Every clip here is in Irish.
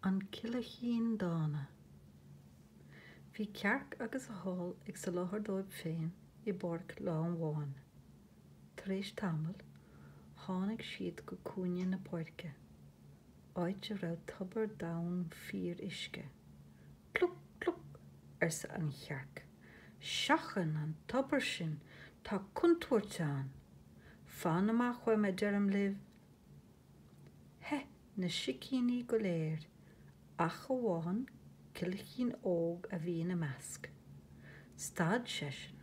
An Coileachín Dána. Bhí cearc agus a hál ag soláthar dóibh féin i bpáirc lá amháin. Tar éis tamaill, tháinig siad go cúinne na páirce, áit a raibh tobar domhain fíor-uisce. Cluc! Cluc! arsa an chearc. Seachain an tobar sin! Tá contúirt ann! Fan amach uaidh a deirim libh, Theith na sicíní go léir ach amháin coileachín óg a bhí ina measc. Stad seisean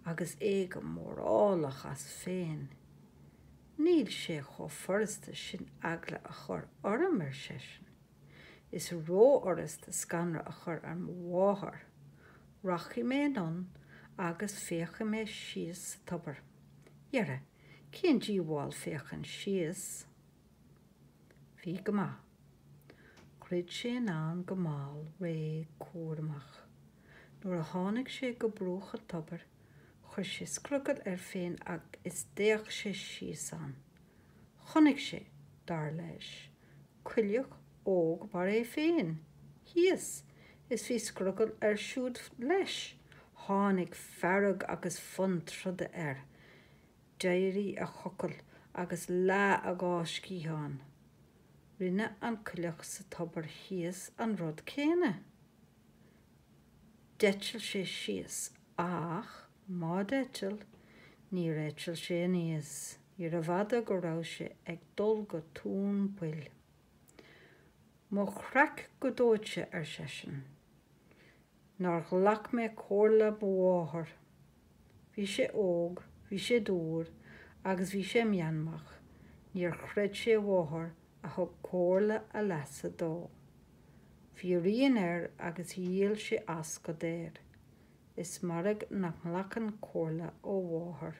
agus é go mórálach as féin. Níl sé chomh furasta sin eagla a chur orm, ar seisean. Is rófhurasta scanradh a chur ar mo mháthair. Rachaidh mé anonn agus féachfaidh mé síos sa tobar. Dhera, Cén díobháil féachaint síos? Bhí go maith. Dhruid sé anonn go mall, réidh, cúramach. Nuair a tháinig sé go bruach an tobair, chuir sé scrogall air féin is d'fhéach sé síos ann. Chonaic sé, dar leis, coileach óg mar é féin thíos, is bhí scrogall air siúd leis. Tháinig fearg agus fonn troda air. D'éirigh a chocall agus leath a dhá sciathán. Rinne an coileach sa tobar thíos an rud céanna. D'eitil sé síos ach má d'eitil, níor eitil sé aníos. Níorbh fhada go raibh sé ag dul go tóin poill. Mo chreach go dóite, ar seisean. nár ghlac mé comhairle mo mháthar. Bhí sé óg, bhí sé dúr agus bhí sé meanmach, níor chreid sé a mháthair a thug comhairle a leasa dó. Bhí a rian air agus dhíol sé as go daor. Is mairg nach nglacann comhairle ó mháthair.